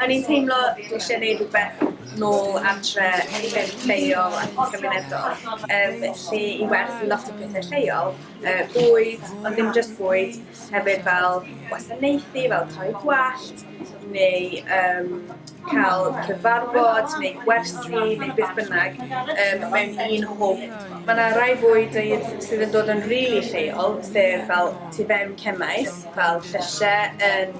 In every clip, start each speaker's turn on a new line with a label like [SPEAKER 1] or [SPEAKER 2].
[SPEAKER 1] O'n i'n teimlo dwi isie neud rwbeth nôl adre yn lleol ac yn cymunedol yym lle i werthu lot o pethe lleol, yy bwyd ond ddim jyst bwyd hefyd fel gwasanaethu fel torri gwallt neu yym ca'l cyfarfod neu gwersi neu beth bynnag yym mewn un hwb. Ma' 'na rai bwydydd sydd yn dod yn rili lleol sef fel tu fewn cemmaes fel llysie yn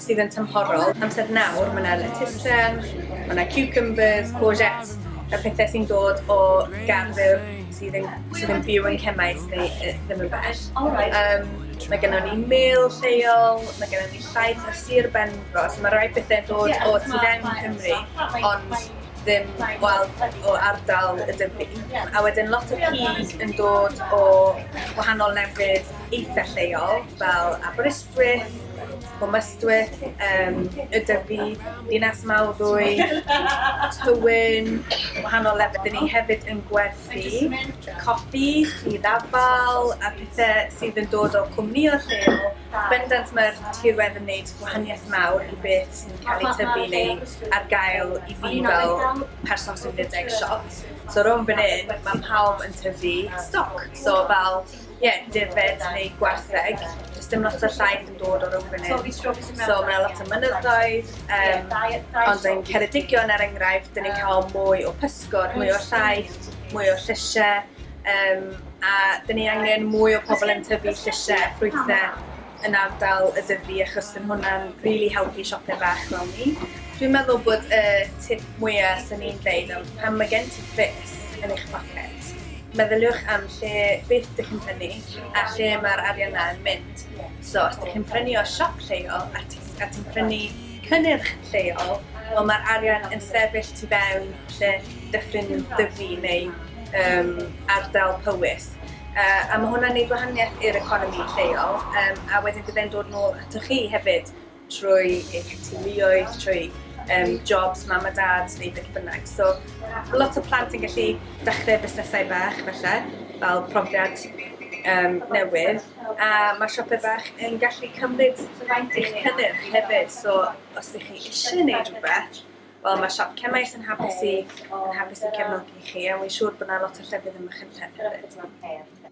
[SPEAKER 1] sydd yn tymhorol. Amser nawr, mae yna lettucen, mae yna cucumbers, courgettes, y pethau sy'n dod o garddwr sydd yn, sydd yn byw yn Cemais neu uh, ddim yn bell. Um, mae gennym ni mil lleol, mae gennym ni llaeth a sir benfro, so mae rhai pethau dod o tu fewn Cymru, ond ddim gweld o ardal y dyfu. A wedyn lot o cig yn dod o wahanol lefydd eitha lleol, fel Aberystwyth, Gwmystwyth, um, y Dyfi, Dinas Mawddwy, Tywyn, wahanol lefydd. Dyn ni hefyd yn gwerthu coffi i ddafal a pethau sydd yn dod o cwmni o'r lleol. Bendant mae'r tirwedd yn gwneud gwahaniaeth mawr i beth sy'n cael ei tyfu neu ar gael i fi fel person sy'n rhedeg siop. So rhwng fan hyn, mae pawb yn tyfu stoc. So fel Ie, defaid neu gwartheg, does dim lot o llaeth yn dod o'r Oban Urdd. So mae yna lot o mynyddoedd, um, ond yn Ceredigion er enghraifft, dyn ni'n cael mwy o pysgod, mwy o llaeth, mwy o llysiau, um, a dyn ni angen mwy o pobl yn tyfu llysiau a ffrwythau yn ardal y Ddyfi achos bydd hwnna'n rili helpu siopwyr bach fel ni. Dwi'n meddwl bod y tip mwya' swn i'n dweud am pan mae gen ti bres yn eich poced, meddyliwch am lle beth dych chi'n prynu a lle mae'r arian 'na yn mynd. So os dych chi'n prynu o siop lleol a ti a ti'n prynu cynnyrch lleol, wel mae'r arian yn sefyll tu fewn lle Dyffryn Dyfi neu yym ardal Powys. gwaith a ma' hwnna'n neud gwahanieth i'r economi lleol yym a wedyn bydde'n dod nôl atoch chi hefyd trwy eich teuluoedd trwy yym jobs mam a dad neu beth bynnag so lot o plant yn gallu dechre busnesau bach falle fel profiad yym newydd a ma' siopau bach yn gallu cymryd eich cynnyrch hefyd so os ydych chi isie neud rwbeth Wel mae siop Cemmaes yn hapus i yn hapus i cefnogi chi a wi'n siŵr bod yna lot o llefydd ym Machynlleth hefyd.